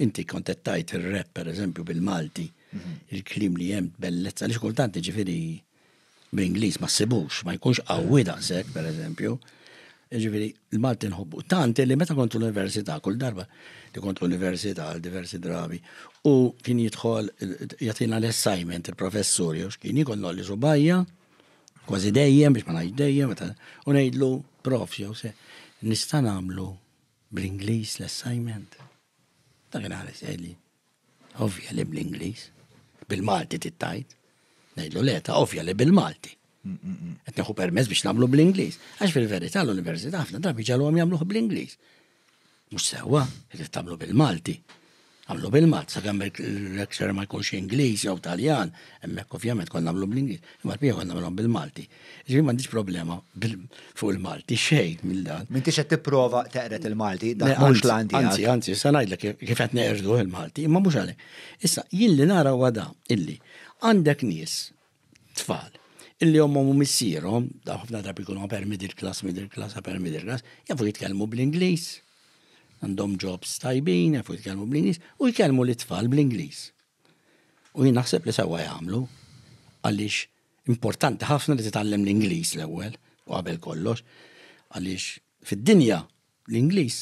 Inti kontettajt il-rap, per eżempju, bil-Malti, mhm. il-klim li jem bellezza, li xkultant ġifiri bl-Inglis ma sibux, ma jkunx għawi daqsek, per eżempju, ġifiri il-Malti nħobbu. Tant li meta kont l-Università, kull darba li kont l-Università għal diversi drabi, u kien jidħol jatina l-assignment il-professur, jew xkien jikon nolli subajja, kważi dejjem, biex ma najd dejjem, u nejdlu prof, jew se, nista' namlu Bl-Ingliż l-assignment? Dak inħares għeli. Ovvja li bl-Ingliż. Bil-Malti tittajt. Ngħidlu le ta' ovvja li bil-Malti. Qed neħu permess biex nagħmlu bl-Ingliż. Għax fil-verità l-università ħafna drabi ġalhom jagħmluh bl-Ingliż. Mhux sewwa, irid tagħmlu bil-Malti. Nagħmlu bil-mod, sakemm il-lecturer ma jkunx Ingliż jew Taljan, hemmhekk ovvjament kont nagħmlu bl-Ingliż, imma l-bqija kont nagħmilhom bil-Malti. Ġifieri m'għandix problema fuq il-Malti, xejn minn dan. M'intix qed tipprova teqred il-Malti, dak mhux l-għan tiegħek. Anzi, anzi, se ngħidlek kif qed neqirduh il-Malti, imma mhux għalhekk. Issa, jien li nara huwa dan, illi għandek nies tfal illi ommhom u missierhom, daw ħafna drabi jkunu upper middle class, middle class, upper middle class, jafu jitkellmu bl-Ingliż, għandhom jobs tajbin, jafu jitkellmu bl-Ingliż, u jkellmu li tfal bl-Ingliż. U jien naħseb li sewwa jagħmlu għaliex importanti ħafna li titgħallem l-Ingliż l-ewwel u qabel kollox għaliex fid-dinja l-Ingliż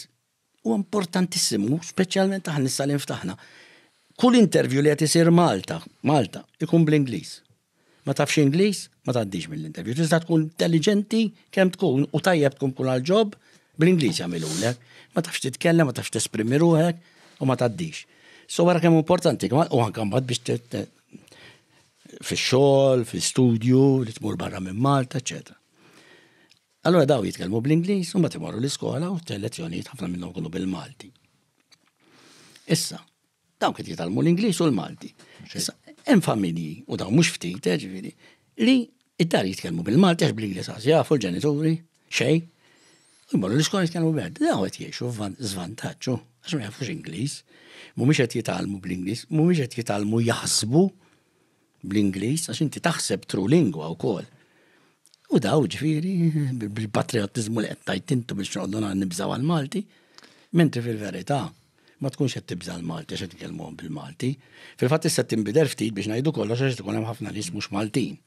Huwa importantissimu, speċjalment aħna issa li nftaħna. Kull intervju li qed isir Malta, Malta, ikun bl-Ingliż. Ma tafx Ingliż, ma tgħaddix mill-intervju. Tista' tkun intelligenti kemm tkun u tajjeb tkun kull għal ġob bl-Ingliż jagħmilulek. Ma tafx titkellem, ma tafx tesprimi ruħek u ma tgħaddix. So wara kemm importanti kemm u anke mbagħad biex fix-xogħol, fl-istudju, li tmur barra minn Malta, eċetera. Allura daw jitkellmu bl-Ingliż u mbagħad imorru l-iskola u t-lezzjonijiet ħafna minnhom kunu bil-Malti. Issa, daw kien jitalmu l-Ingliż u l-Malti. Issa, hemm familji u daw mhux ftit, eh, ġifieri, li id-dar jitkellmu bil-Malti għax bl-Ingliż għaż jafu l-ġenituri, xej. U jmorru l-iskola jitkellmu bil Daw qed jgħixu żvantaġġu għax ma jafux Ingliż. Mhumiex qed jitalmu bl-Ingliż, mhumiex qed jitalmu jaħsbu bl-Ingliż għax inti taħseb tru lingwa wkoll. U daw ġifieri bil-patriottiżmu li qed tajt intu biex noqogħdu nibżgħu għall-Malti, mentri fil-verità ma tkunx qed tibża' l-Malti għax qed titkellmuhom bil-Malti. Fil-fatt issa tinbidel ftit biex ngħidu kollox għax tkun hemm ħafna nies mhux Maltin.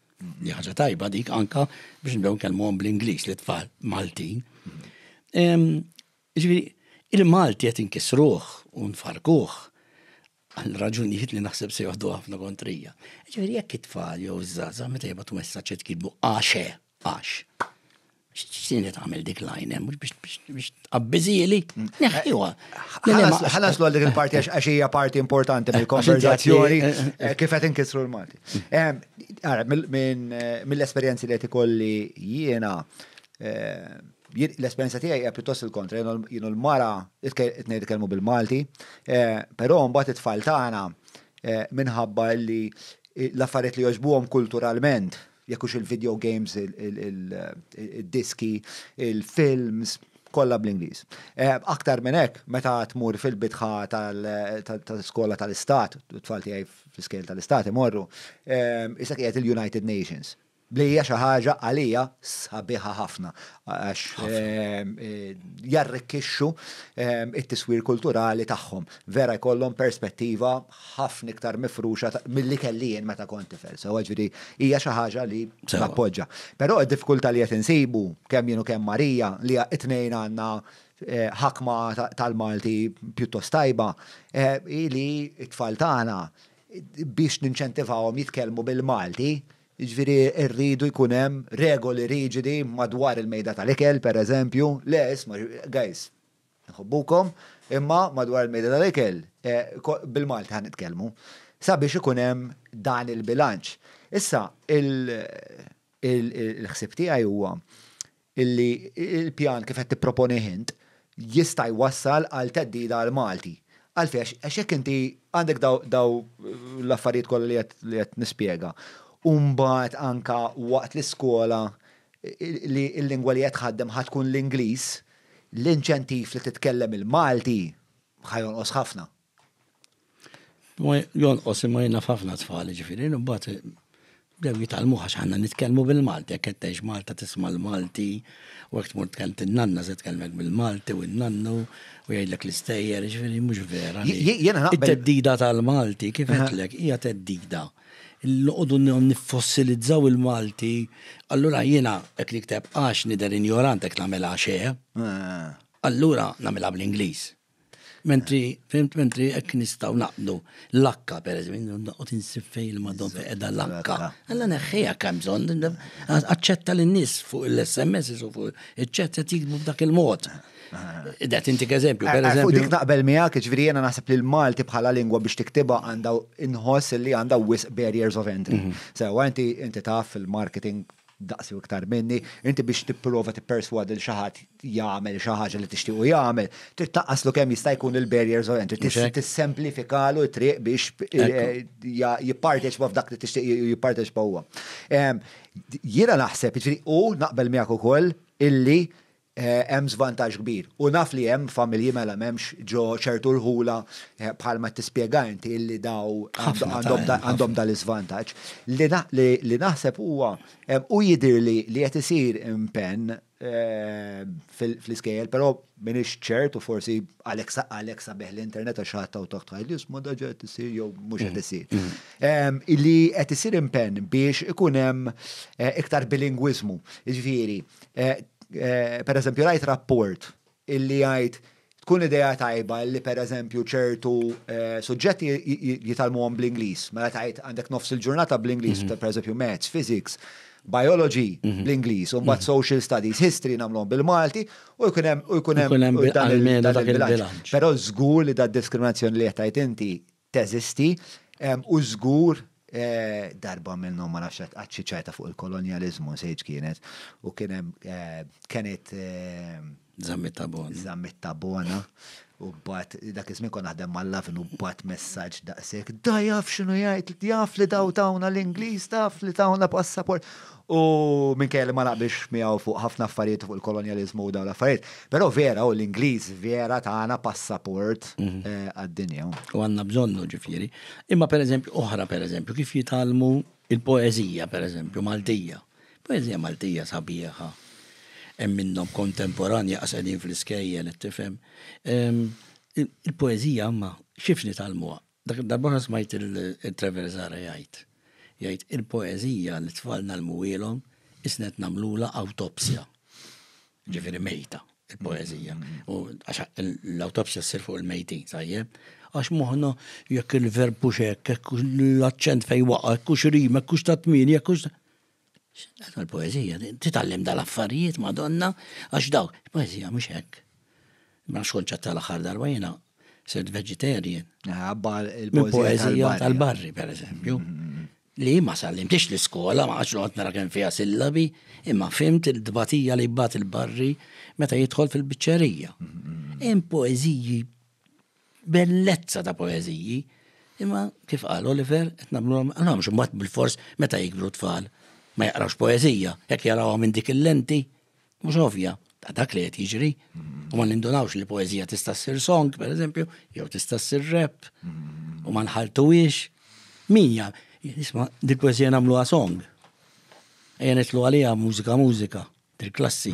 Li ħaġa tajba dik anka biex nibdew nkellmuhom bl-Ingliż li tfal Maltin. Ġifieri, il-Malti qed inkisruh u nfarkuh għal raġunijiet li naħseb se joħdu ħafna kontrija. Ġifieri jekk it-tfal jew iż-żaza meta jibgħatu messaġġ jitkidbu għaxe, għax. X'tin qed tagħmel dik lajn hemm biex biex tqabbiżieli. Neħħiwa. Ħalas l dik il-parti għax hija parti importanti mill-konverzazzjoni eh, eh, eh. kif qed inkissru l-Malti. Ara, mill-esperjenzi li qed ikolli jiena L-esperjenza tiegħi hija pjuttost il-kontra, jienu l-mara tnejn itkellmu bil-Malti, eh, però mbagħad it-tfal tagħna eh, minħabba li l-affarijiet li jogħġbuhom kulturalment, jekk hux il-video games, il-diski, il-films, kollha bl-Ingliż. Eh, aktar minn hekk, meta tmur fil-bitħa tal-skola tal-istat, t-tfal tiegħi fl-iskejl tal-istat imorru, isek qiegħed il-United Nations. Li hija xi ħaġa għalija sabiħa ħafna għax jarrikkixxu it-tiswir kulturali tagħhom. Vera jkollhom perspettiva ħafna iktar mifruxa milli kelli jien meta kont tifel. Sewwa ġifieri hija xi ħaġa li nappoġġa. Però d-diffikultà li qed insibu kemm jien u kemm Marija li t-tnejn għandna ħakma tal-Malti pjuttost tajba hi li t-tfal tagħna biex ninċentivawhom jitkellmu bil-Malti Jiġifieri rridu jkun hemm regoli riġidi madwar il-mejda tal-ikel, pereżempju, le isma', guys, inħobbukom, imma madwar il-mejda tal-ikel bil-Malti ħa nitkellmu. Sabiex ikun hemm dan il-bilanċ. Issa, il-ħsieb tiegħi huwa illi l-pjan kif qed tipproponih int jista' jwassal għal theddida għall-Malti. Għalfejn? Għax jekk inti għandek dawn l-affarijiet kollha li qed nispjega u mbagħad anke waqt l-iskola li l-lingwa li qed tħaddem ħa tkun l-Ingliż, l-inċentiv li titkellem il-Malti ħa jonqos ħafna. Jonqos imma jien naf ħafna tfal, ġifieri, imbagħad bdew jitgħallmu għax aħna nitkellmu bil-Malti, jekk qed tgħix Malta tisma' l-Malti, u jekk tmur tkellem in-nanna se tkellmek bil-Malti u n-nannu u jgħidlek l-istejjer, ġifieri mhux vera. It-theddida tal-Malti, kif għedtlek, hija theddida. Noqogħdu niffossilizzaw il-Malti, allura jiena hekk nikteb għax nidher injorant hekk nagħmel għax eh, allura nagħmilha bl-Ingliż. Mentri, fimt, mentri ek nistaw naqdu l-akka, per eżempju, naqot insib fej il-madon fej edha l-akka. Għalla neħħija kam bżon, għacċetta l-nis fuq l-SMS u fuq il-ċet għet jikbu f'dak il-mod. Dat inti eżempju, per eżempju. Fuq dik naqbel miegħek, ġifieri jiena naħseb li l-Malti bħala lingwa biex tiktibha għandha inħoss li għandha wisq barriers of entry. Mhm. Sewa inti inti taf fil-marketing daqsi u iktar minni, inti biex tipprova tipperswadi lil xi ħadd jagħmel xi ħaġa li tixtiequ jagħmel, trid tnaqqaslu kemm jista' jkun il-barriers u entry, trid tissemplifikalu t-triq biex jipparteċipa f'dak li tixtieq jipparteċipa huwa. Jiena naħseb, jiġifieri u naqbel miegħek ukoll illi hemm żvantaġġ kbir. U naf li hemm familji mela m'hemmx ġo ċertu rħula bħalma qed tispjega inti illi daw għandhom dan l-iżvantaġġ. Li naħseb huwa u jidhirli li qed isir impenn fl-iskejjel, però m'iniex ċert u forsi għalhekk sabiħ l-internet għax xi ħadd hawn taħt jgħidli isma' daġ qed isir jew mhux qed isir. Li qed isir impenn biex ikun hemm iktar bilingwiżmu. Jiġifieri, Eh, eh, per eżempju, rajt rapport illi jgħid tkun idea tajba li per eżempju ċertu eh, suġġetti jitalmuhom bl-Ingliż, mela tajt għandek nofs il-ġurnata bl-Ingliż, mhm. per eżempju maths, physics, biology mhm. bl-Ingliż, u mbagħad mhm. social studies, history nagħmluhom bil-Malti, u jkun hemm u jkun hemm dan il-bilanċ. Però żgur li da diskriminazzjoni li qed inti teżisti, u żgur, darba minnhom ma nafx hekk qatt xi ċajta fuq il-kolonjaliżmu nsejt x'kienet, u kien hemm kenit. Żammiet ta' bona. Żammiet ta' bona, u bgħatt, dak iż-żmien kont naħdem mal-Lovin u bgħatt messaġġ daqshekk, da jaf x'inhu jgħid, jaf li daw tawna l-Ingliż, taf li tawna passaport. U minkejja li ma naqbilx miegħu fuq ħafna affarijiet fuq il-kolonjaliżmu u dawn l-affarijiet, però vera hu l-Ingliż vera tana passaport għad-dinja. U għandna bżonnu, ġifieri. Imma pereżempju oħra pereżempju kif jitgħallmu l-poeżija pereżempju Maltija. Poeżija Maltija sabiħa. Hemm minnhom kontemporanji qas qegħdin fl-iskejjel qed tifhem. Il-poeżija imma kif nitgħallmuha? Dak id-darba oħra smajt il-Trevor Zahra jgħid, jgħid, il-poeżija li t-tfal ngħallmuhielhom qisna qed nagħmlulha awtopsja. Ġifieri mejta il-poeżija. U għax l-awtopsja ssir fuq il-mejtin, tajjeb? Għax moħħna jekk il-verb hux hekk, hekk l-aċċent fejn waqa', hekk hux rima, hekk hux ta' tmieni, hekk hux. X'inqata l-poeżija, titgħallem dal-affarijiet Madonna għax dawk il-poeżija mhux hekk. Ma xkont ċatta l-aħħar darba jiena sirt vegetarian. Għabbar il-poeżija tal-barri, per eżempju. Mm, mm, mm. Li ma sallimtix l-iskola, ma għax noqgħod nara kemm fiha sillabi, imma fimt il-dbatija li jbat il-barri meta jidħol fil-biċċerija. Hemm poeżiji bellezza ta' poeżiji, imma kif qal Oliver, qed nagħmluhom għalhomx imbagħad bil-fors meta jikbru tfal ma jaqrawx poeżija, jekk jarawha minn dik il-lenti, mhux ovvja, ta' dak li qed jiġri, u ma nindunawx li poeżija tista' ssir song, pereżempju, jew tista' ssir rap, u ma nħalltuhiex. Min jaf, isma' dik poeżija nagħmluha song. Ejja nitlu għaliha mużika mużika, dil-klassi.